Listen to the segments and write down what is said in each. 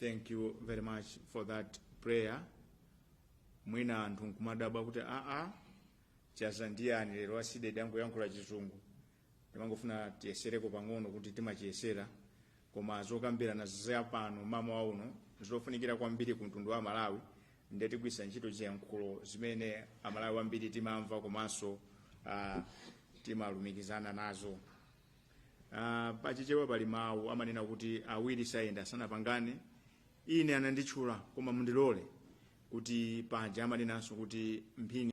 thank you very much for that prayer mwina anthu nkumadabwa kuti aa chadza ndi yani lero aCiD angoyankhula chizungu ndimangofuna tiyesereko pang'ono kuti timachiyesera koma zokambirana za pano mmawa uno zofunikira kwambiri ku mtundu wa amalawi ndiye tigwiritsa ntchito ziyankhulo zimene amalawi ambiri timamva komanso uh, timalumikizana nazo uh, pachichewa pali mawu amanena kuti awiri sayenda sanapangane ine ananditchula koma mundilole kuti paja amanenanso kuti mphini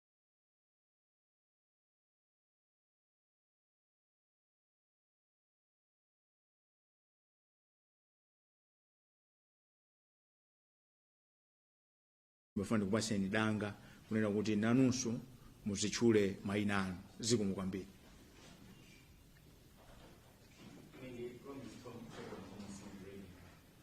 ndimafuna ndikupaseni danga kunena kuti nanunso muzitchule mayina anu zikomo kwambiri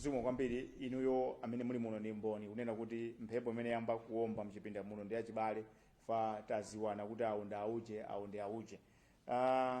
zikomo kwambiri inuyo amene muli muno ndi mboni kunena kuti mphepo imene yamba kuomba mchipinda muno ndi yachibale fa taziwana kuti awo ndi auje awo ndi auje uh,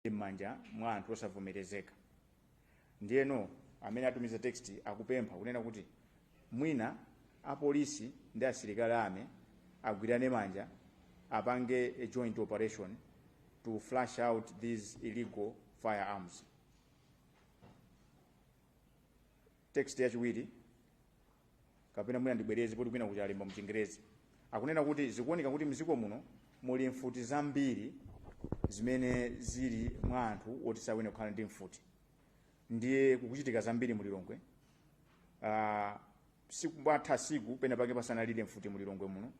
ali m'manja mwa anthu osavomerezeka ndiyeno amene atumiza text akupempha kunena kuti mwina apolisi ndi asilikali army agwirane manja apange a joint operation to flush out these illegal firearms text yachiwiri kapena mwina ndibwereze poti kwinaku talemba mchingerezi akunena kuti zikuoneka kuti mdziko muno muli mfuti zambiri zimene zili mwa anthu oti sayenera kukhala ndi mfuti ndiye kukuchitika zambiri mu lilongwe uh, sikumatha siku pena pake pasanalire mfuti mu lilongwe muno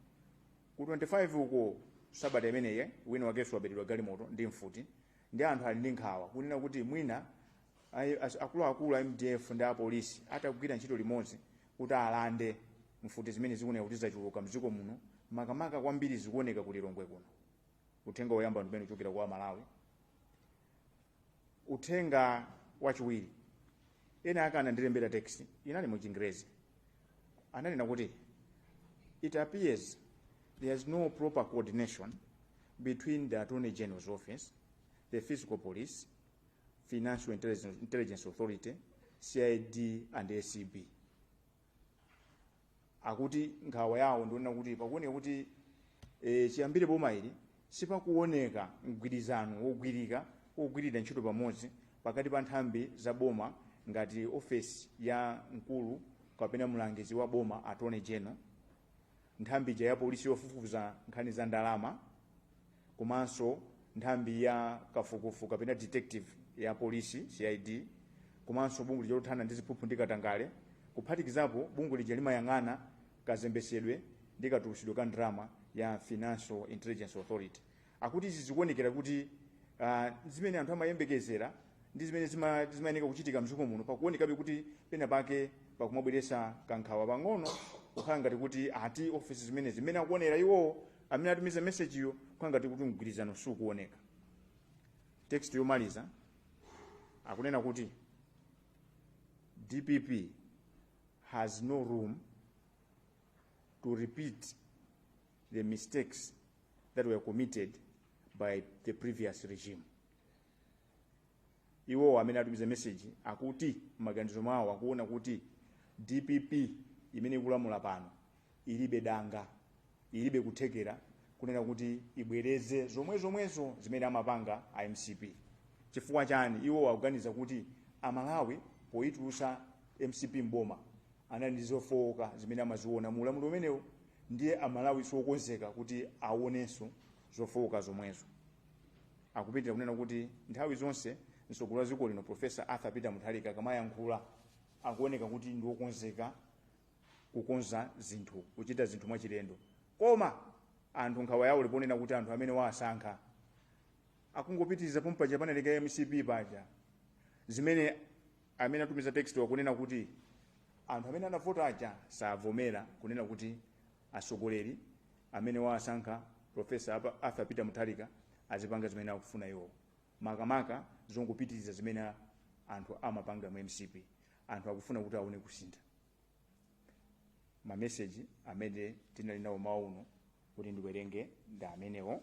ku 25 uko sabata imeneyi wina wakenso wabedwa galimoto ndi mfuti ndiye anthu ali ndi nkhawa kunena kuti mwina Ayi, as- akuluakulu a mdf ndi apolisi atagwira ntchito limodzi kuti alande mfuti zimene zikuoneka kuti zachuluka mdziko muno makamaka kwambiri zikuoneka ku lilongwe kuno uthenga woyamba ndi umene ukuchokera kwa amalawi uthenga wachiwiri ena ake anandilembera text inali mu chingerezi ananena kuti it appears there is no proper coordination between the attorney general's office the fiscal police Financial Intelligence Authority, CID and ACB. Akuti nkhawa yawo ndi yonena kuti pakuoneka kuti e, chiyambire boma ili sipakuoneka mgwirizano wogwirika wogwirira ntchito pamodzi pakati pa nthambi za boma ngati ofesi ya mkulu kapena mlangizi wa boma attorney general nthambi ija ya polisi yofufuza nkhani za ndalama komanso nthambi ya kafukufu kapena detective ya polisi cid komanso bungwe lija lothana ndi ziphuphu ndi katangale kuphatikizapo bungwe lija limayang'ana kazembesedwe ndi katulusidwe ka ndalama ya financial intelligence authority akuti izi zikuonekera kuti uh, zimene anthu amayembekezera ndi zimene zima- zimayenera kuchitika mdziko muno pakuonekabe kuti pena pake pakumabweresa kankhawa pang'ono kukhala ngati kuti ati ofesi zimenezi mmene akuonera iwowo amene atumiza mesejiyo kwangati kuti mgwirizano sukuoneka text yomaliza akunena kuti dpp has no room to repeat the mistakes that were committed by the previous regime iwowo amene atumiza meseji akuti m'maganizo mwawo akuona kuti dpp imene ikulamula pano ilibe danga ilibe kuthekera kunena kuti ibwereze zomwe zomwezo zimene amapanga a mcp chifukwa chani iwo akuganiza kuti amalawi poyitulusa mcp mboma anali ndi zofowoka zimene amaziona mu ulamuliro umenewo ndiye amalawi siokonzeka kuti aonenso zofowoka zomwezo Akupitilira kunena kuti nthawi zonse mtsogoleri wa dziko lino Professor Arthur Peter Mutharika akamayankhula akuoneka kuti ndi wokonzeka kukonza zinthu, kuchita zinthu mwachilendo. Koma anthu nkhawa yawo ili ponena kuti anthu amene waasankha akungopitiriza pomwe paja panalekera mcp paja zimene amene atumiza text-wa akunena kuti anthu amene anavota aja savomera kunena kuti atsogoleri amene wawasankha professor Arthur Peter Mutharika azipanga zimene akufuna iwowo makamaka zongopitiriza zimene anthu amapanga mu mcp anthu akufuna kuti aone kusintha mameseji amene tinali nawo mmawa uno kuti ndiwerenge ndi amenewo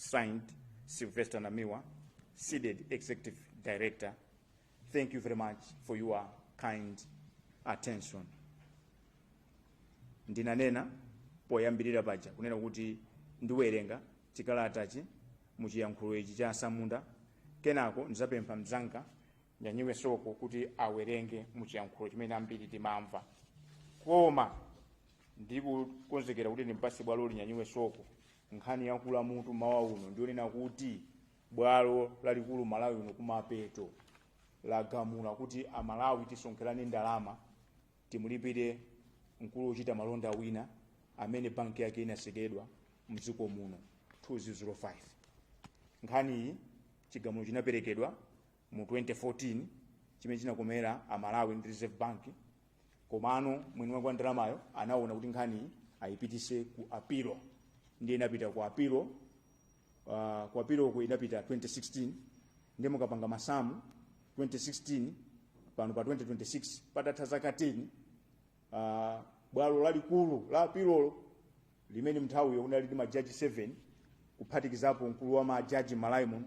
Signed, Sylvester Namiwa, CDEDI Executive Director. Thank you very much for your kind attention. Ndinanena poyambirira paja kunena kuti ndiwerenga chikalatachi mu chiyankhulo ichi cha asamunda kenako ndizapempha mzanga nyanyiwe soko kuti awerenge mu chiyankhulo chimene ambiri timamva koma ndikukonzekera kuti ndimpase bwaloli nyanyiwe soko nkhani yakula mutu mawa uno ndionena kuti bwalo lalikulu mmalawi muno kumapeto lagamula kuti amalawi tisonkherane ndalama timulipire mkulu wochita malonda wina amene banki yake inatsekedwa mdziko muno 2005 nkhaniyi chigamulo chinaperekedwa mu 2014 chimene chinakomera amalawi ndi reserve bank komano mwini wake wa ndalamayo anaona kuti nkhani ayipitise ku apilo ndiye inapita ku apilo uh, ku apiloku inapita 2016 ndiye mukapanga masamu 2016 pano pa 2026 patatha zaka 10 uh, bwalo lalikulu la apilolo limene mnthawiyo kunali ndi majaji 7 kuphatikizapo mkulu wa majaji mmalawi muno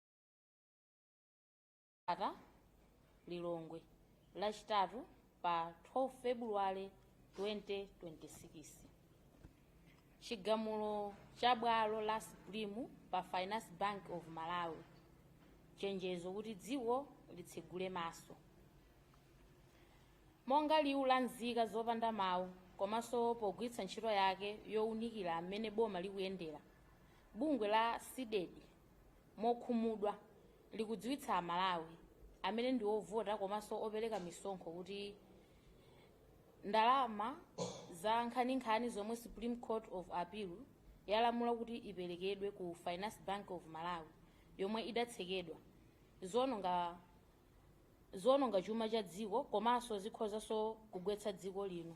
ata lilongwe lachitatu pa 12 februwale 2026 chigamulo cha bwalo la supreme pa finance bank of malawi chenjezo kuti dziko litsegule maso monga liwu la nzika zopanda mawu komanso pogwiritsa ntchito yake yowunikira mmene boma likuyendera bungwe la cdedi mokhumudwa likudziwitsa Amalawi amene ndi ovota komanso opereka misonkho kuti ndalama za nkhaninkhani zomwe Supreme Court of Appeal yalamula kuti iperekedwe ku Finance Bank of Malawi yomwe idatsekedwa ziononga chuma cha dziko komanso zikhozanso kugwetsa dziko lino.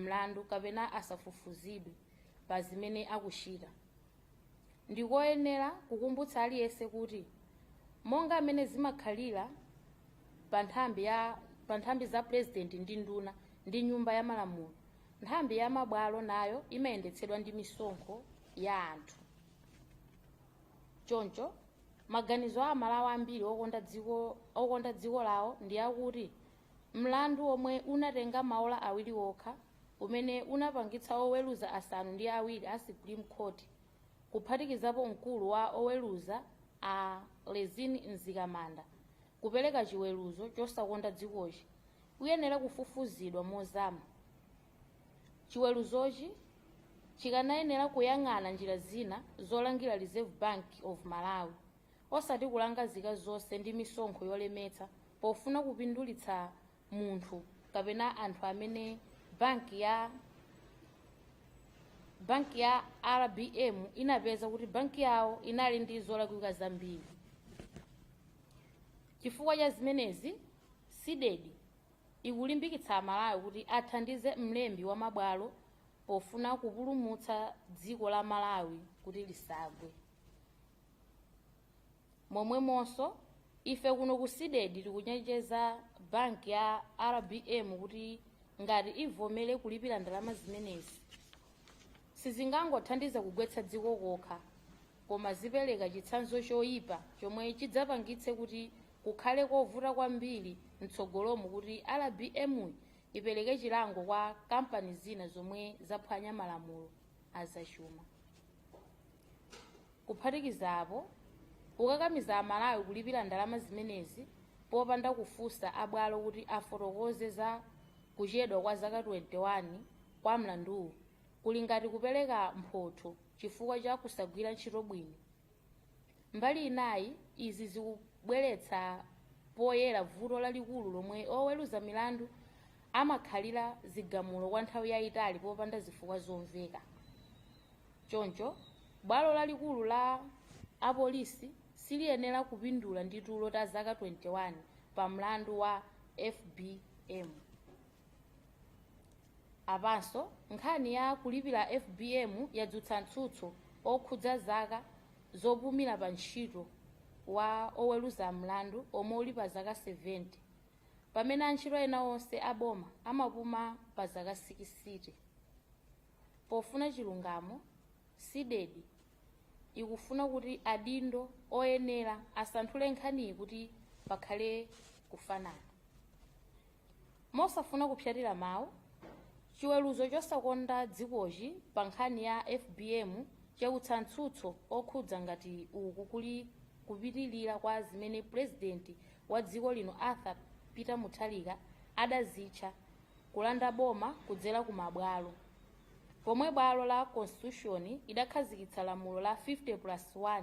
mlandu kapena asafufuzidwe pa zimene akuchita ndikoyenera kukumbutsa aliyense kuti monga mmene zimakhalira pa nthambi za purezidenti ndi nduna ndi nyumba ya malamulo Nthambi ya mabwalo nayo imayendetsedwa ndi misonkho ya anthu. Choncho, maganizo a Malawi ambiri okonda dziko lawo ndi akuti mlandu omwe unatenga maola awiri okha umene unapangitsa oweruza asanu ndi awiri a Supreme Court, kuphatikizapo mkulu wa oweruza a Rizine Mzikamanda, kupereka chiweruzo chosakonda dzikochi, uyenera kufufuzidwa mozama. Chiweruzochi chikanayenera kuyang'ana njira zina zolangira Reserve Bank of Malawi osati kulanga zika zonse ndi misonkho yolemetsa pofuna kupindulitsa munthu kapena anthu amene banki ya RBM inapeza kuti banki yawo inali ndi zolakwika zambiri. Chifukwa cha zimenezi, Cdedi ikulimbikitsa Amalawi kuti athandize mlembi wa mabwalo pofuna kupulumutsa dziko la Malawi kuti lisagwe. Momwemonso, ife kuno ku Cdedi tikuchenjeza banki ya RBM kuti ngati ivomere kulipira ndalama zimenezi, sizingangothandiza kugwetsa dziko kokha, koma zipereka chitsanzo choipa chomwe chidzapangitse kuti kukhale kovuta kwambiri mtsogolomu kuti rbm ipereke chilango kwa kampani zina zomwe zaphwanya malamulo azachuma kuphatikiza apo kukakamiza amalawi kulipira ndalama zimenezi popanda kufunsa abwalo kuti afotokoze za kuchedwa kwa zaka 21 kwa mlanduwu kuli ngati kupereka mphotho chifukwa cha kusagwira ntchito bwino. Mbali inayi, izi zikubweretsa poyera vuto lalikulu lomwe oweruza milandu amakhalira zigamulo kwa nthawi yaitali popanda zifukwa zomveka. Choncho, bwalo lalikulu la apolisi siliyenera kupindula ndi tulo ta zaka 21 pa mlandu wa FBM. Apanso, nkhani ya kulipira FBM yadzutsa mtsutso okhudza zaka zopumira pa ntchito wa oweluza mlandu omwe uli pa zaka 70, pamene antchito ena onse a boma amapuma pa zaka 60. Pofuna chilungamo, Cdedi ikufuna kuti adindo oyenera asanthule nkhaniyi kuti pakhale kufanana. mosafuna kupsatira mawu chiweruzo chosakonda dzikochi pa nkhani ya fbm chautsa mtsutso okhudza ngati uku kuli kupitirira kwa zimene pulezidenti wa dziko lino arthur peter mutharika adazitcha kulanda boma kudzera ku mabwalo pomwe bwalo la constitution idakhazikitsa lamulo la 50 plus 1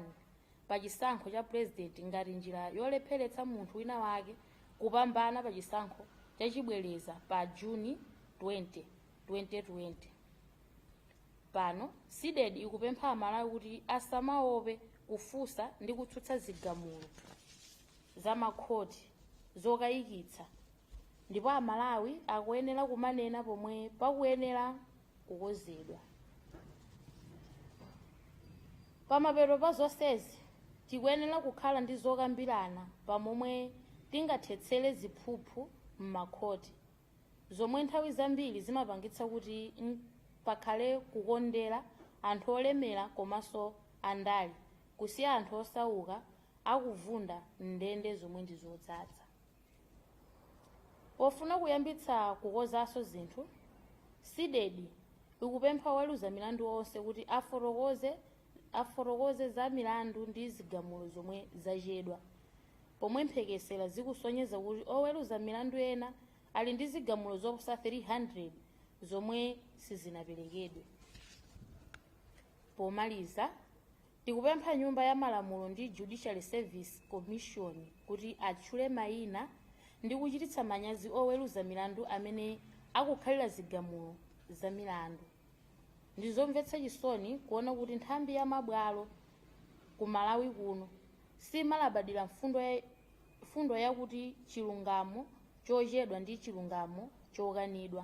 pa chisankho cha pulezidenti ngati njira yolepheretsa munthu wina wake kupambana pa chisankho chachibwereza pa Juni 20, 2020. Pano, Cdedi ikupempha Amalawi kuti asamaope kufunsa ndi kutsutsa zigamulo za makhoti zokayikitsa ndipo amalawi akuyenera kumanena pomwe pakuyenera kukonzedwa pamapeto pa zonsezi tikuyenera kukhala ndi zokambirana pamomwe tingathetsere ziphuphu m'makhoti zomwe nthawi zambiri zimapangitsa kuti pakhale kukondera anthu olemera komanso andale kusiya anthu osauka akuvunda m'ndende zomwe ndi zodzadza Pofuna kuyambitsa kukonzanso zinthu, Cdedi ikupempha oweluza milandu onse kuti afotokoze za milandu ndi zigamulo zomwe zachedwa, pomwe mphekesera zikusonyeza kuti oweluza milandu ena ali ndi zigamulo zoposa 300 zomwe sizinapelekedwe. Pomaliza, Tikupempha Nyumba ya Malamulo ndi Judicial Service Commission kuti atchule maina ndi kuchititsa manyazi oweluza milandu amene akukhalira zigamulo za milandu. Ndizomvetsa chisoni kuona kuti nthambi ya mabwalo ku Malawi kuno simalabadira mfundo yakuti chilungamo chochedwa ndi chilungamo chokanidwa.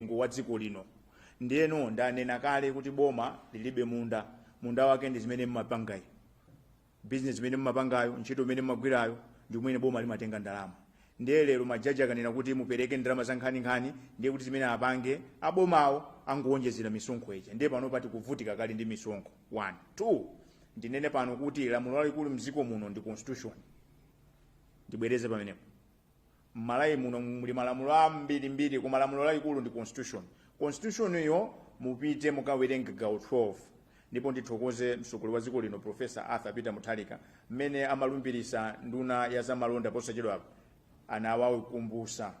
mlingo wa dziko lino ndiyeno ndanena kale kuti boma lilibe munda munda wake ndi zimene mmapangayo bizinesi zimene mmapangayo ntchito imene mmagwirayo ndi kumene boma limatenga ndalama ndiye lero majaji akanena kuti mupereke ndalama za nkhaninkhani ndiye kuti zimene apange abomawo angowonjezera misonkho ija ndiye pano pa tikuvutika kale ndi misonkho one two ndinene pano kuti lamulo lalikulu mdziko muno ndi constitution ndibwereze pamenepo mmalawi muno muli malamulo ambirimbiri koma lamulo lalikulu ndi constitution constitution iyo mupite mukawerenge gawo 12 ndipo ndithokoze mtsogoleri wa dziko lino profesa arthur peter mutharika mmene amalumbirisa nduna ya zamalonda posachedwapa anawakumbusa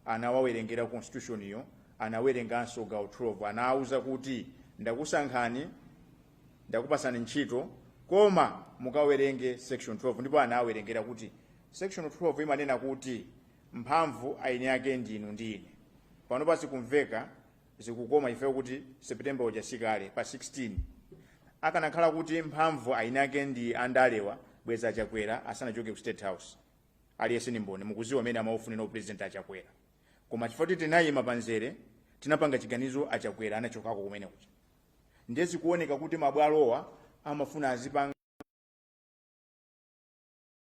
anawawerengera constitution iyo anawerenganso gawo 12 anawuza kuti ndakusankhani ndakupasani ntchito koma mukawerenge section 12 ndipo anawerengera kuti Section 12 imanena kuti mphamvu aini ake ndinu ndi ine. Pano pa zikumveka zikukoma chifukwa choti September uja si kale pa 16. Akanakhala kuti mphamvu aini ake ndi andalewa bwenza a Chakwera asanachoke ku State House. Aliyense ndi mboni mukuziwa mmene amaufunira u president a Chakwera. Koma chifukwa kuti tinayima pamzere tinapanga chiganizo a Chakwera anachokako kumene kuja. Ndiye zikuoneka kuti mabwalowa amafuna azipanga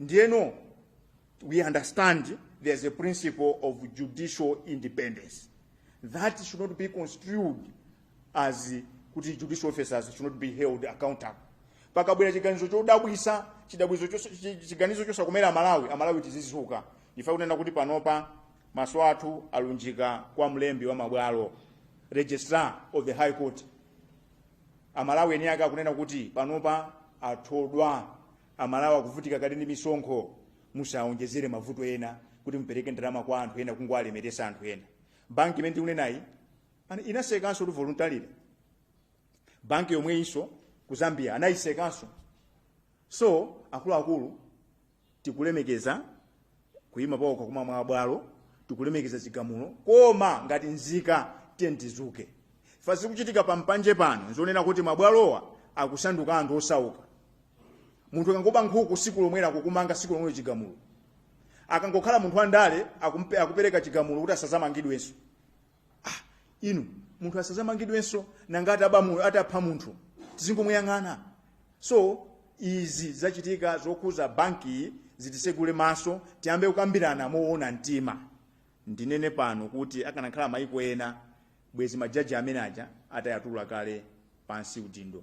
ndiyeno we understand there's a principle of judicial independence that should not be construed as kuti judicial officers should not be held accountable pakabwera chiganizo chodabwisa chiganizo chos- chi- chiganizo chosakomera amalawi amalawi tizizuka ifa kunena kuti panopa maso athu alunjika kwa mlembi wa mabwalo registrar of the high court amalawi eni ake akunena kuti panopa athodwa amalawi akuvutika kale ndi misonkho musawonjezere mavuto ena kuti mupereke ndalama kwa anthu ena kungowalemeresa anthu ena banki imene ndikunenayi ana- inasekanso kuti voluntarily banki yomweyinso ku zambia anayisekanso so akuluakulu tikulemekeza kuyima paokha kwa mabwalo tikulemekeza chigamulo koma ngati nzika tiyeni tizuke ifa zikuchitika pa mpanje pano nzonena kuti mabwalowa akusanduka a anthu osauka munthu akangoba nkhuku siku lomwero akukumanga siku lomwero chigamulo akangokhala munthu wa ndale akumpe- akupereka chigamulo kuti asazamangidwenso inu munthu asazamangidwenso nanga ataba mu- atapha munthu tizingomuyang'ana so izi zachitika zokhuza bankiyi zitisegule maso tiyambe kukambirana moona mtima ndinene pano kuti akanakhala maiko ena bwezi majaji amene aja atayatula kale pansi udindo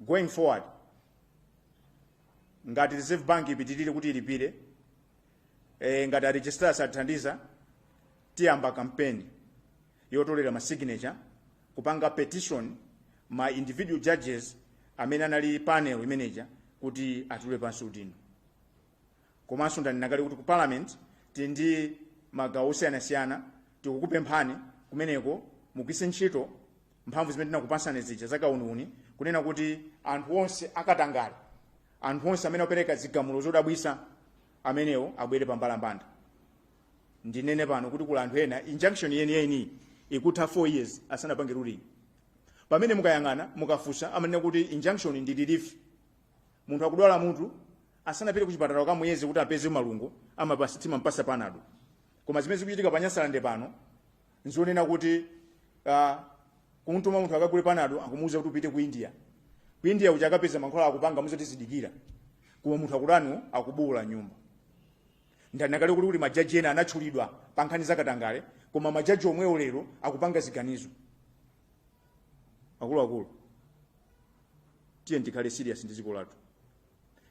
going forward ngati reserve bank ipitirire kuti ilipire e, ngati aregistrar sathandiza tiyamba kampeni yotolera ma signature kupanga petition ma individual judges amene anali panel imeneja kuti atule pansi udindo komanso ndanena kale kuti ku parliament tili ndi magawo osiyanasiyana tikukupemphani kumeneko mugwiritse ntchito mphamvu zimene tinakupasani zija zakauniuni kunena kuti anthu onse akatangale anthu onse amene akupereka zigamulo zodabwisa amenewo abwere pambalambanda ndinene pano kuti kuli anthu ena injunction yeniyeni ikutha 4 years asanapange ruling pamene mukayang'ana mukafusa amanena kuti injunction ndi relief munthu akudwala mutu asanapite kuchipatala akamuyeze kuti apeze malungo amapasa timampasa panado koma zimene zikuchitika pa nyasalande pano nzonena kuti uh, kumtuma munthu akagule panado akumuuza kuti upite ku india ku india uja akapeza mankhwala akupanga muuza tizidikira koma munthu akudwala akubuula m'nyumba ndanena kale kuti kuti majaji ena anatchulidwa pa nkhani zakatangale koma majaji omwewo lero akupanga ziganizo akuluakulu tiyeni tikhale serious ndi dziko lathu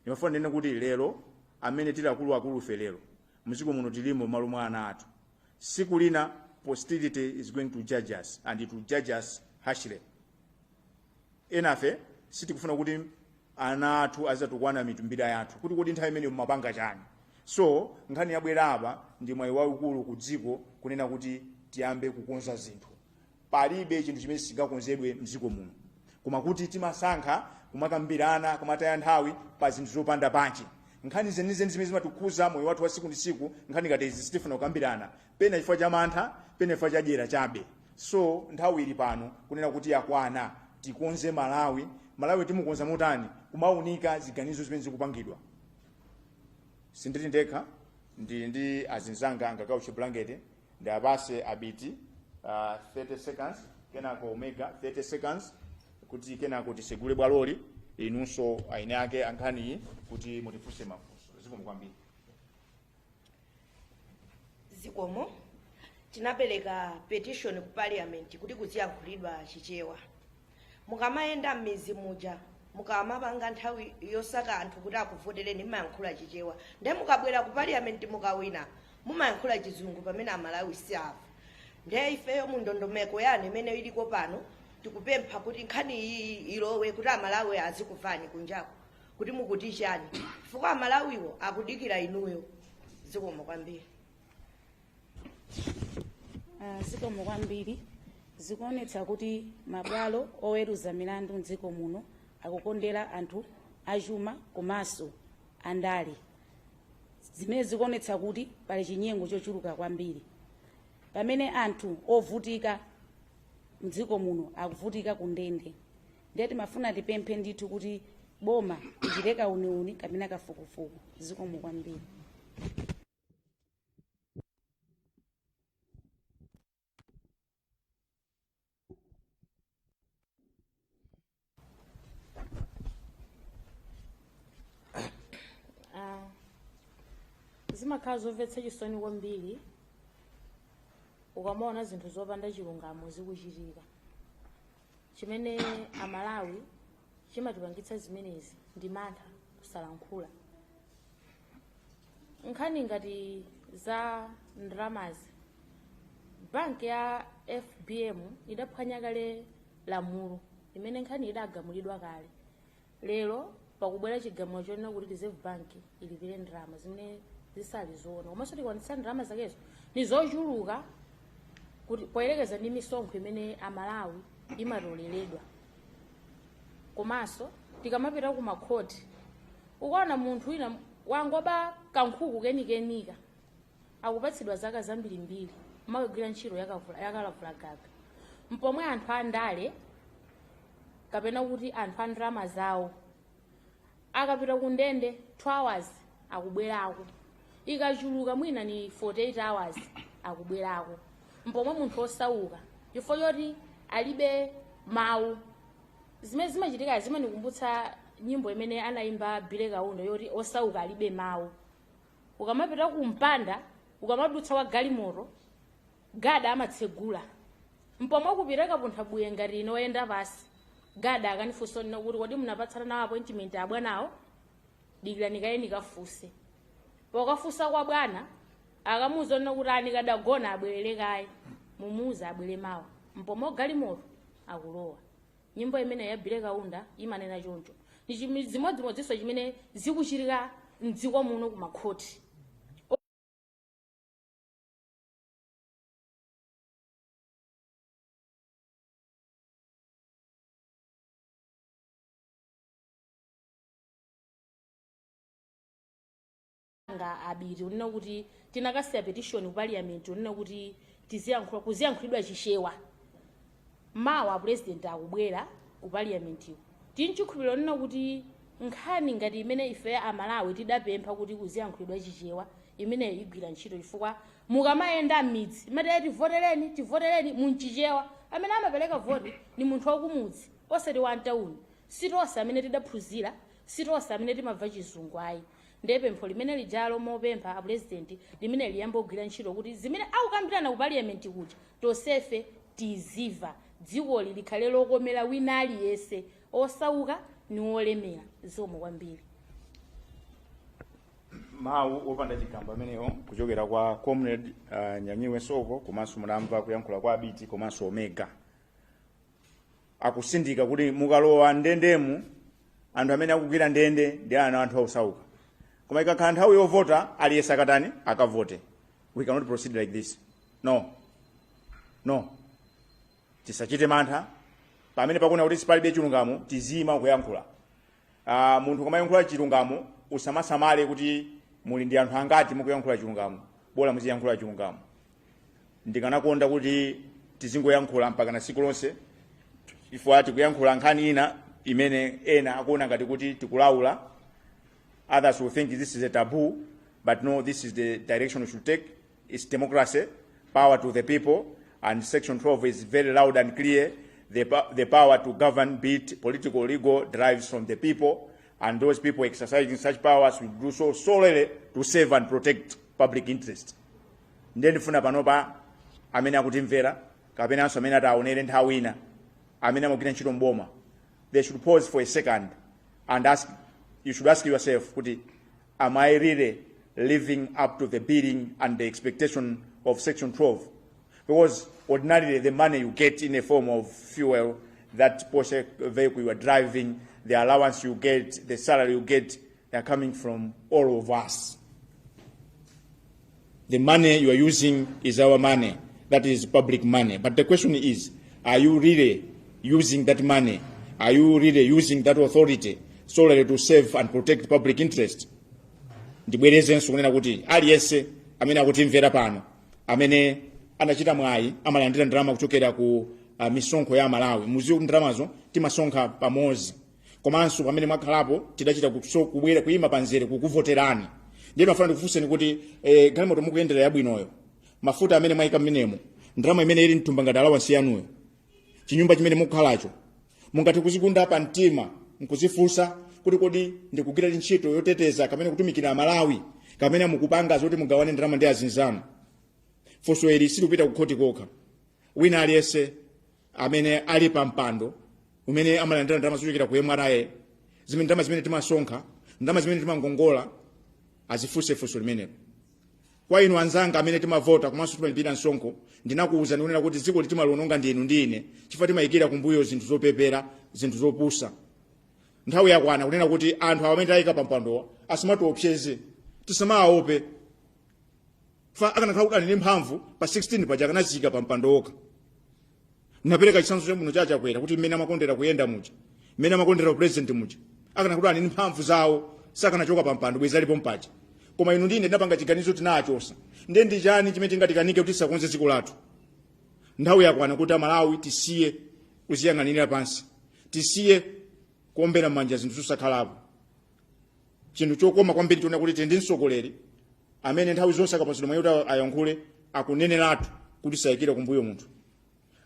ndimafuna ndinene kuti lero amene tili akuluakulufe lero mdziko muno tilimo malo mwa ana athu siku lina posterity is going to judge us and it will judge us harshly enafe sitikufuna kuti ana athu azatukwana mitumbira yathu kuti kodi nthawi imeneyo mumapanga chani so nkhani yabwera apa ndi mwayi waukulu ku dziko kunena kuti tiyambe kukonza zinthu palibe chinthu chimene sichingakonzedwe mdziko muno koma kuti timasankha kumakambirana kumataya nthawi pa zinthu zopanda pake nkhani zenizeni zimene zimatikhuza moyo wathu wa siku ndi siku nkhani ngati izi sitifuna kukambirana pena chifukwa cha mantha pena chifukwa cha dyera chabe so nthawi ili pano kunena kuti yakwana tikonze malawi malawi timukonza motani kumaunika ziganizo zimene zikupangidwa sindili ndekha ndili ndi azinzanga angakawo chibulangete ndi apase abiti uh, 30 seconds kenako omega 30 seconds kuti kenako tisegule bwaloli inunso eni ake ankhaniyi kuti mutifunse mafunso zikomo kwambiri zikomo tinapereka petition ku parliament kuti kuziyankhulidwa chichewa mukamayenda m'mizi muja mukamapanga nthawi yosaka anthu kuti akuvotereni mumayankhula chichewa nde mukabwera ku parliament mukawina mumayankhula chizungu pamene amalawi sakumva nde ifeyo mu ndondomeko yanu imene iliko pano tikupempha kuti nkhani iyi ilowe kuti amalawi azikuvani kunjako kuti mukuti chani chifukwa amalawiwo akudikira inuyo zikomo kwambiri Ah, zikomo kwambiri zikuonetsa kuti mabwalo oweruza milandu mdziko muno akukondera anthu achuma komanso andale zimene zikuonetsa kuti pali chinyengo chochuluka kwambiri pamene anthu ovutika mdziko muno akuvutika kundende ndiye timafuna tipemphe ndithu kuti boma lichite kauniuni kapena kafukufuku zikomo kwambiri Ah, zimakhala zomvetsa chisoni kwambiri ukamaona zinthu zopanda chilungamo zikuchitika chimene amalawi chimatipangitsa zimenezi ndi mantha kusalankhula nkhani ngati za ndalamazi banki ya fbm idaphwanya kale lamulo imene nkhani idagamulidwa kale lero pakubwera chigamulo chonena kuti reserve bank ilipire ndalama zimene zisali zoona komanso sitikwanitsa ndalama zakezo ndi zochuluka kuti poyerekeza ndi misonkho imene amalawi imatoleredwa komanso tikamapita ku makhoti ukaona munthu wina wangoba kankhuku kenikenika akupatsidwa zaka zambirimbiri umakagwira ntchito yakalavulagaga mpomwe anthu andale kapena kuti anthu a ndalama zawo Akapita ku ndende 2 hours akubwerako, ikachuluka mwina ni 48 hours akubwerako. Mpomwe munthu wosauka chifukwa choti alibe mawu. Zimene zimachitikazi zimanikumbutsa nyimbo imene anaimba Billy Kaunda yoti osauka alibe mawu. Ukamapita ku mpanda, ukamadutsa wa galimoto, Gada amatsegula mpomwe kupitako punthabuye ngati ine oyenda pansi gada akanifunsa onena kuti kodi munapatsana nawo appointment abwanawo dikirani kaye nikafunse pokafunsa kwa bwana akamuuza onena kuti ah nikadagona abwerere kaye mumuuza abwere mawa mpomwe galimoto akulowa nyimbo imene ya Billy Kaunda imanena choncho ni chimi- zimodzimodzinso chimene zikuchitika mdziko muno kumakhoti nga abiti onena kuti tinakasiya petition ku parliament onena kuti tiziyankhula kuziyankhulidwa chichewa Mawa a Pulezidenti akubwera ku Paliamentiku tili nchikhulupiliro chonena kuti nkhani ngati imene ife a Malawi tidapempha kuti kuziyankhulidwa Chichewa imeneyo igwira ntchito chifukwa mukamayenda m'midzi mumati tivotereni tivotereni mu Chichewa amene amapereka voti ndi munthu wakumudzi osati wa mtauni. Si tonse amene tidaphunzira, si tonse amene timamva chizungu ayi. nde pempho limene lijalo mopempha a president limene liyambe kugwira ntchito kuti zimene akukambirana ku parliament kuja tonsefe tiziva dzikoli likhale lokomera wina aliyense osauka ni wolemera zikomo kwambiri mawu opanda chigamba amenewo kuchokera kwa comrade uh, nyanyiwe nsoko komanso mwamva kuyankhula kwa abiti komanso omega akutsindika kuti mukalowa ndendemu anthu amene akugwira ndende ndi anthu osauka koma ikakhala nthawi yovota aliyense akatani akavote we cannot proceed like this no no tisachite mantha pamene pakuona kuti apa palibe chilungamo tiziima kuyankhula uh, munthu ukamayankhula chilungamo usamasamale kuti muli ndi anthu angati mukuyankhula chilungamo bola muziyankhula chilungamo ndikanakonda kuti tizingoyankhula mpakana tsiku lonse chifukwa tikuyankhula nkhani ina imene ena akuona ngati kuti tikulaula others will think this is a taboo but no this is the direction we should take it's democracy power to the people and section 12 is very loud and clear the, po- the power to govern be it political or legal derives from the people and those people exercising such powers will do so solely to save and protect public interest ndiye ndifuna panopa amene akutimvera kapenanso amene ataonere nthawi ina amene amagwira ntchito mboma they should pause for a second and ask you should ask yourself kuti am i really living up to the bidding and the expectation of section 12 because ordinarily the money you get in a form of fuel that Porsche vehicle you are driving the allowance you get the salary you get They are coming from all of us. The money you are using is our money. That is public money. But the question is, are you really using that money? Are you really using that authority solely to serve and protect public interest? ndibwerezenso kunena kuti aliyense amene akutimvera pano amene anachita mwayi amalandira ndalama kuchokera ku uh, misonkho ya malawi mudziwe kuti ndalamazo timasonkha pamodzi komanso pamene mwakhalapo tidachita kuso kubwera kuyima pamzere kukuvoterani ndiye ndimafuna ndikufunseni kuti eh, galimoto mukuyendera yabwinoyo mafuta amene mwayika mmenemo ndalama imene ili mthumba ngati alawansi yanuyo chinyumba chimene mukukhalacho mungathe kudzigunda pa mtima nkudzifunsa kuti kodi ndikugwira ntchito yoteteza kapena kutumikira amalawi kapena mukupanga zoti mugawane ndalama ndi azinzanu funso ili silikupita kukhoti kokha wina aliyense amene ali pa mpando umene amalandira ndalama zochokera ku mra zimene ndalama zimene timasonkha ndalama zimene timakongola adzifunse funso limenelo kwa inu anzanga amene timavota komanso timalipira msonkho ndinakuwuzani kunena kuti dziko ili timaliononga ndinu ndi ine chifukwa timayikira kumbuyo zinthu zopepera zinthu zopusa nthawi yakwana kunena kuti anthu amene tayika pampandowa asamatiopseze tisamawaope chifukwa akanakhala kuti ali ndi mphamvu pa 16 paja akanadziika pa mpando okha napereka chitsanzo chabwino cha chakwera kuti mmene amakondera kuyenda muja mmene amakondera upresident muja akanakhala kuti ali ndi mphamvu zawo sakanachoka pa mpando bwezi alipo paja koma inu ndi ine tinapanga chiganizo tinachotsa ndiye ndi chani chimene chingatikanike kuti tisakonze dziko lathu nthawi yakwana kuti amalawi tisiye kudziyang'anira pansi tisiye kuombera m'manja zinthu zosakhalapo chinthu chokoma kwambiri nchonena kuti tili ndi mtsogoleri amene nthawi zonse akapatsidwa mwayi kuti ayankhule akuneneratu kuti sayikira kumbuyo munthu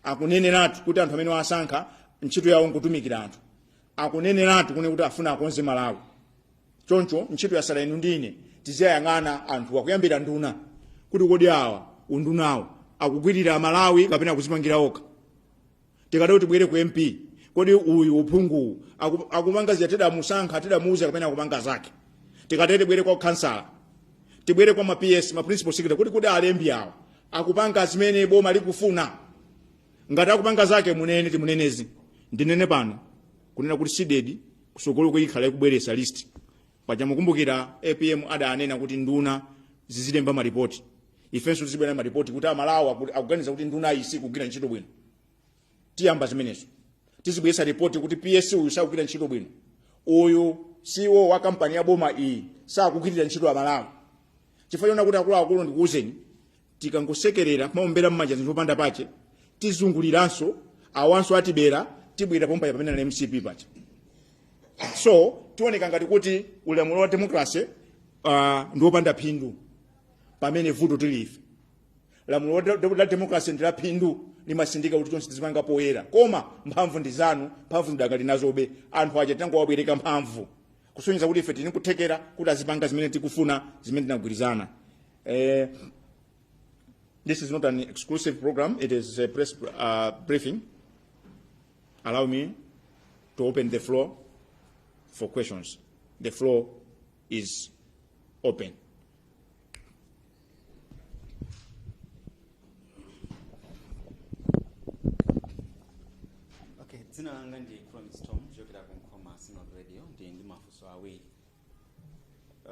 akuneneratu kuti anthu amene wasankha ntchito yawo nkutumikira anthu akuneneratu kune kuti afuna akonze malawi choncho ntchito yatsala inu ndi ine tiziwayang'ana anthuwa kuyambira nduna kuti kodi awa undunawo akugwirira malawi kapena akudzipangira okha tikatero tibwere ku mp kodi uyu uphunguwu aku- akupanga zija tidamusankha tidamuuza kapena akupanga zake tikatere tibwere kwa khansala tibwere kwa ma ps ma principal secretary kuti kodi alembi awa akupanga zimene boma likufuna ngati akupanga zake munene timunenezi ndinene pano kunena kuti CDEDI kutsogoloku ikhala ikubweretsa list paja mukumbukira apm adanena kuti nduna zizilemba maripoti ifenso tizibwera maripoti kuti amalawi akuganiza kuti nduna iyi sikugwira ntchito bwino tiyamba zimenezo tizibweresa ripoti kuti ps uyu sakugwira ntchito bwino uyu ceo wa kampani ya boma iyi sakugwirira ntchito amalawi chifukwa chona kuti akuluakulu ndikuwuzeni tikangosekerera kumaombera mmanja zinthu opanda pache tizunguliranso awanso atibera tibwera pompaya pamene na mcp pacha so tioneka ngati kuti ulamuliro wa demokrasi uh, ndi wopanda phindu pamene vuto ndi ife lamulo la de- la demokrasi ndi la phindu limasindika kuti zonse tizipanga poyera koma mphamvu ndi zanu mphamvu zidakali nazobe anthu aja tangowabwereka mphamvu kusonyeza kuti ife tili ni kuthekera kuti azipanga zimene tikufuna zimene tinagwirizana eh, this is not an exclusive program it is a press uh, briefing allow me to open the floor for questions the floor is open okay dzina langa ndi promise tom kuchokera ku nkhoma synod radio ndili ndi mafunso awiri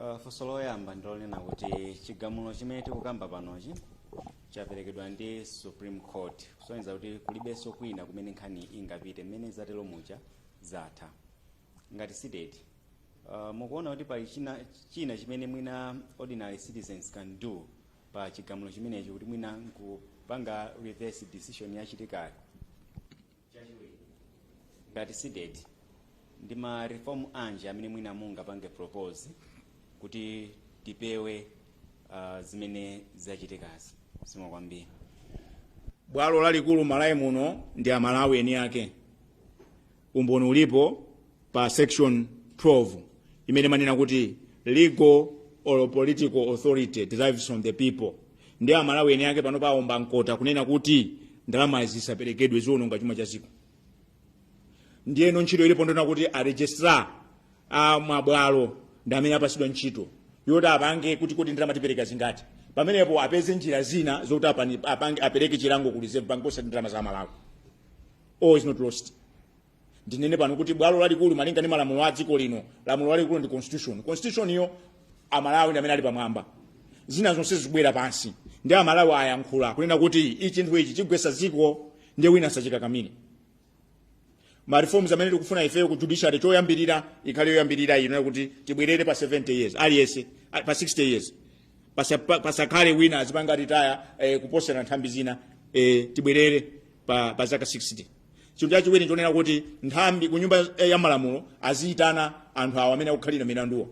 uh, funso loyamba ndilonena kuti chigamulo chimene tikukamba panochi chaperekedwa ndi supreme court kusonyeza kuti kulibenso kwina kumene nkhani ingapite mmene zatero muja zatha ngati cdedi uh, mukuona kuti pali china, china chimene mwina ordinary citizens can do pa chigamulo chimenechi kuti mwina nkupanga reverse decision yachitikayo chachiwiri ngati cdedi ndi ma reform anji amene mwina mungapange propose kuti tipewe uh, zimene zachitikazi zikomo kwambiri bwalo lalikulu malawi muno ndi amalawi eni ake umboni ulipo pa section 12 imene imanena kuti legal or political authority derives from the people ndi amalawi eni ake pano aomba mkota kunena kuti ndalama zisaperekedwe ziononga chuma cha dziko ndiye ntchito ilipo ndona kuti aregistrar a mabwalo ndi amene apasidwa ntchito yoti apange kuti kodi ndalama tipereka zingati pamenepo apeze njira zina zokuti apani- apange- apereke chilango ku reserve bank osati ndalama za amalawi all is not lost ndinene pano kuti bwalo lalikulu malinga ndi malamulo a dziko lino lamulo lalikulu ndi constitution constitution iyo amalawi ndi amene ali pamwamba zina zonse zikubwera pansi nde amalawi ayankhula kunena kuti ichi chinthu ichi chigwesa dziko nde wina asachikakamire ma reforms amene tikufuna ifeyo ku judiciary choyambirira ikhale yoyambirira ino kuti tibwerere pa 70 years aliyense a- pa 60 years Pasa- pa- pasakhale wina azipanga retire eh, kuposera nthambi zina eh, tibwerere pa, pa zaka 60 chinthu chachiwiri chonena kuti nthawi zonse ku nyumba ya malamulo aziyitana anthu awo amene akukhalira milanduwo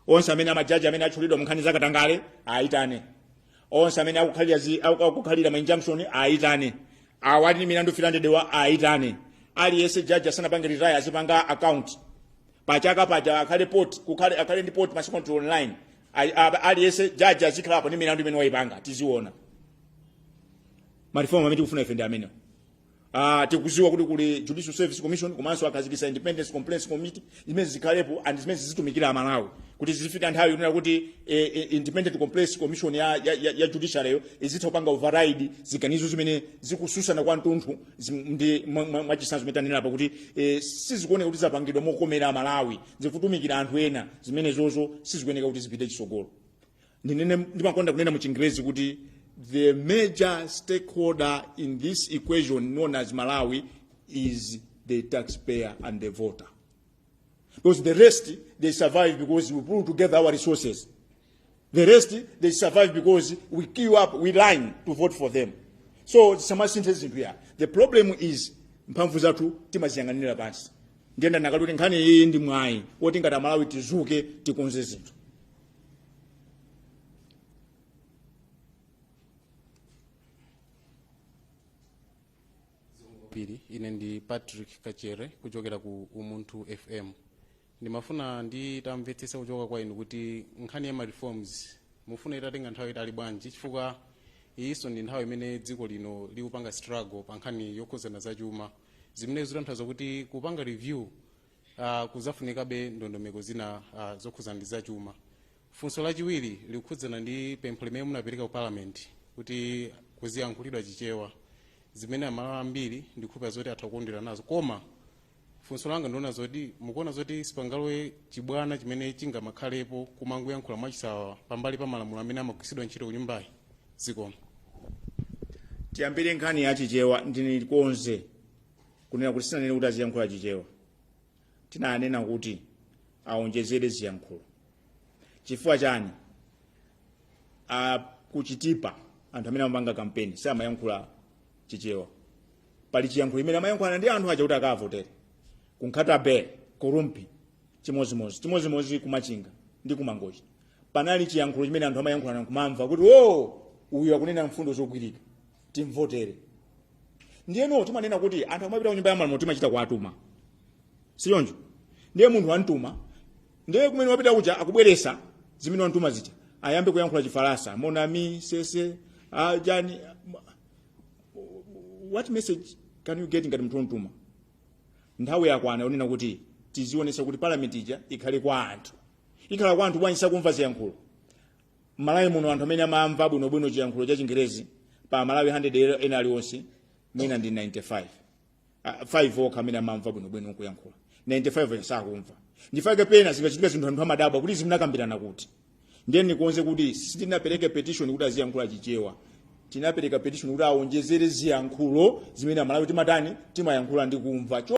onse amene amajaji amene atchulidwa munkhani zakatangale ayitane onse amene akukhalira zi- aku- akukhalira ma injunction ayitane awo ali ndi milandu 300 wa ayitane aliyense jaji asanapange retire azipanga account pachaka paja akhale report kukhale akhale ndi report masiku onse online Ali- a- aliyense jaji azikhalapo ndi milandu imene wayipanga tiziona marifomu amene tikufuna ife ndi amenewo Ah, tikuziwa kuti kuli judicial service commission komanso akhazikisa independence complaints committee zimene zikhalepo and zimene zizitumikira amalawi kuti zizifika nthawi yonena kuti eh, eh, independent complaints commission ya, ya, ya, ya judiciaryyo izitha kupanga override ziganizo zimene zikutsutsana kwa mtunthu zim- ndi mwa- mwa- mwachisanzo zimene tanena apa kuti eh, sizikuoneka kuti zapangidwa mokomera amalawi zikutumikira anthu ena zimenezozo sizikuoneka kuti zipite chisogolo ndinene ndimakonda kunena mu chingerezi kuti the major stakeholder in this equation known as malawi is the taxpayer and the voter because the rest they survive because we pull together our resources the rest they survive because we queue up we line to vote for them so tingasinthe zinthu ya the problem is mphamvu zathu timaziyang'anira pansi ndiye ndikuti kuti nkhani iyi ndi mwayi woti ngati amalawi tizuke tikonze zinthu ili ine ndi patrick kachere kuchokera ku umunthu fm ndimafuna nditamvetsesa kuchoka kwa inu kuti nkhani ya ma reforms mufuna itatenga nthawi itali bwanji chifukwa iyinso ndi nthawi imene dziko lino likupanga struggle pa nkhani yokhuzana za chuma zimene zitanthauza kuti kupanga review uh, kuzafunikabe ndondomeko zina uh, zokhudzana ndi zachuma funso lachiwiri likukhudzana ndi pempho limene munapereka ku parliament kuti kuziyankhulidwa chichewa zimene amalawi ambiri ndikhulupira zoti atha kukondwera nazo koma funso langa ndi lonena zoti mukuona zoti sipangalowe chibwana chimene chingamakhalepo kumangoyankhula mwachisawawa pambali pa malamulo amene amagwiritsidwa ntchito ku nyumbayi zikomo tiyambire nkhani ya chichewa ndikonze kunena kuti sinanene kuti aziyankhula chichewa tinanena kuti aonjezere ziyankhulo chifukwa chani a kuchitipa anthu amene amapanga kampeni samayankhula chichewa pali chiyankhulo chimene amayankhulana ndi anthu aja kuti akavotere kunkhata bay kurumphi chimozimozi chimozimozi kumachinga ndi kumangochi panali chiyankhulo chimene anthu amayankhulana kumamva kuti o uyu akunena mfundo zogwirika timvotere ndiyeno timanena kuti anthu amapita kunyumba ya malamulo timachita kuwatuma sichoncho ndiye munthu wamtuma ndiye kumene wapita kuja akubweretsa zimene wamtuma zija ayambe kuyankhula chifaransa monami sese ajani what message can you get ngati munthu wamtuma nthawi yakwana yonena kuti tizionetsa kuti parliament ija ikhale kwa anthu ikhala kwa anthu bwanji sakumva ziyankhulo m'malawi muno anthu amene amamva bwinobwino chiyankhulo cha chingerezi pa amalawi 100 ena aliwonse mwina ndi 95 Ah, 5 okha amene amamva bwinobwino kuyankhula 95 ena sakumva n'chifukwa chake pena zikachitika zinthu anthu amadabwa kuti zimenezi munakambirana kuti ndiye ndikonze kuti sitinapereke petition kuti aziyankhula chichewa tinapereka petition kuti awonjezere ziyankhulo zimene amalawi timatani timayankhula ndi kumva Cho-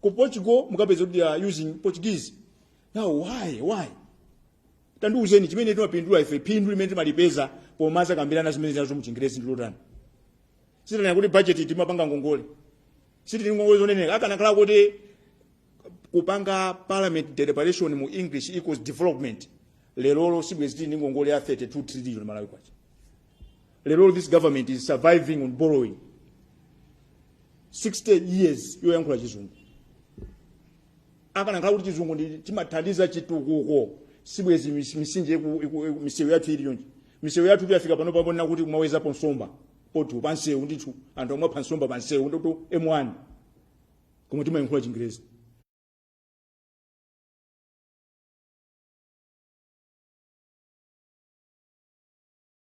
ku portugal mukapeza kuti they are using portuguese now why why tandiuzeni chimene timapindula ife phindu limene timalipeza pomadzakambirana zimene zinazo muchingerezi ndi lotani sitanena kuti budget timapanga ngongole sitili ngongole zosaneneka akanakhala kuti kupanga parliament deliberation mu english equals development lerolo sibwezi tili ndi ngongole ya 32 trillion malawi kwacha lero this government is surviving on borrowing 60 years yoyankhula chizungu akanakhala kuti chizungu ndi chimene chimathandiza chitukuko sibwezi mis- misinje iku- iku- iku- misewu yathu ili yonje misewu yathu tuyafika pano paoneka kuti kumawezapo nsomba potu pansewu ndithu anthu omwe apha nsomba pansewu ndoto m1 koma timayankhula chingerezi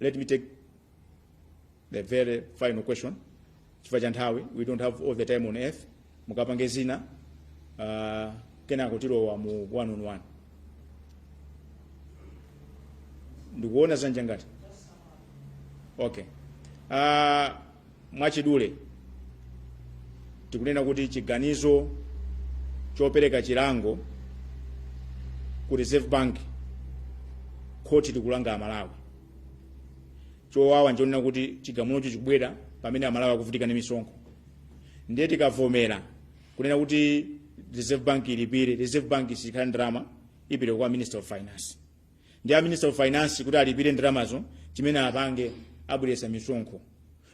Let me take the very final question chifukwa cha nthawi we don't have all the time on earth mukapange zina uh, kenako tilowa mu one on one ndikuwona zanja ngati okay uh, Mwachidule, tikunena kuti chiganizo chopereka chilango ku Reserve Bank, khoti likulanga Amalawi. Chowawa nchonena kuti chigamulocho chikubwera pamene Amalawi akuvutika ndi misonkho. Ndiye tikavomera kunena kuti Reserve Bank ilipire, Reserve Bank sikhala ndi ndalama, ipita kwa Minister of Finance. ndi a minister of finance kuti alipire ndalamazo chimene apange abweresa misonkho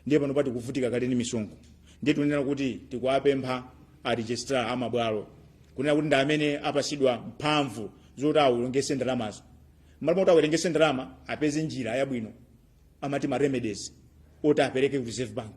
ndiye pano tikuvutika kale ndi misonkho ndiye tikunena kuti tikuwapempha a registrar a mabwalo kunena kuti ndi amene apasidwa mphamvu zoti awerengese ndalamazo mmalo moti awerengese ndalama apeze njira yabwino amati ma remedies oti apereke ku reserve bank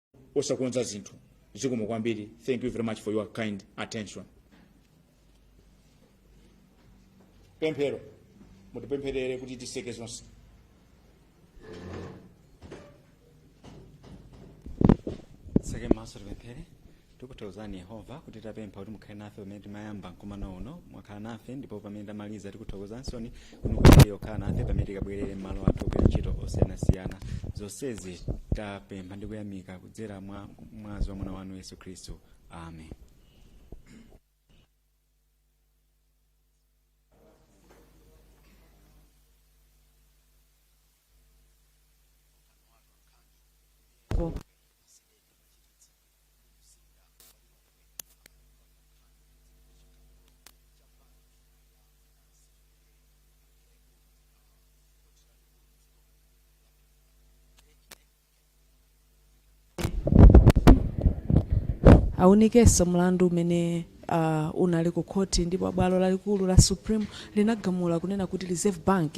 osakonza zinthu zikomo kwambiri thank you very much for your kind attention pemphero mutipempherere kuti tiseke zonse titseke maso tipemphere tikuthokozani yehova kuti tapempha kuti mukhale nafe pamene timayamba mkumano uno mwakhala nafe ndipo pamene tamaliza tikuthokozansoni kuti mupitirize kukhala nafe pamene tikabwerere m'malo athu ogwira ntchito osiyanasiyana zonsezi tapempha ndi kuyamika kudzera mwa mwazi wa mwana wanu yesu khristu amen aunikenso mlandu umene unali ku khoti ndipo bwalo lalikulu la Supreme linagamula kunena kuti Reserve Bank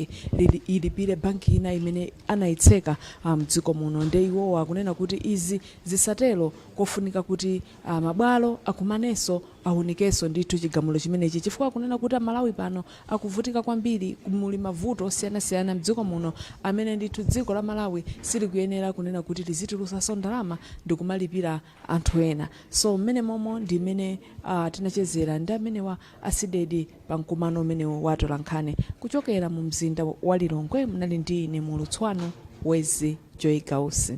ilipire banki ina imene anayitseka mdziko muno nde iwowa akunena kuti izi zisatero kofunika kuti a mabwalo akumaneso awunikeso ndithu chigamulo chimenechi chifukwa akunena kuti a Malawi pano akuvutika kwambiri muli mavuto osiyanasiyana mdziko muno amene ndithu dziko la Malawi silikuyenera kunena kuti lizitulusaso ndalama ndikumalipira anthu ena. So mmene momo ndi mmene uh, tinachezera ndi amenewa a CDEDI pa mkumano umenewu wa atolankhani kuchokera mu mzinda wa Lilongwe. Munali ndi ine mulutsi wanu Wezi Joy Gausi.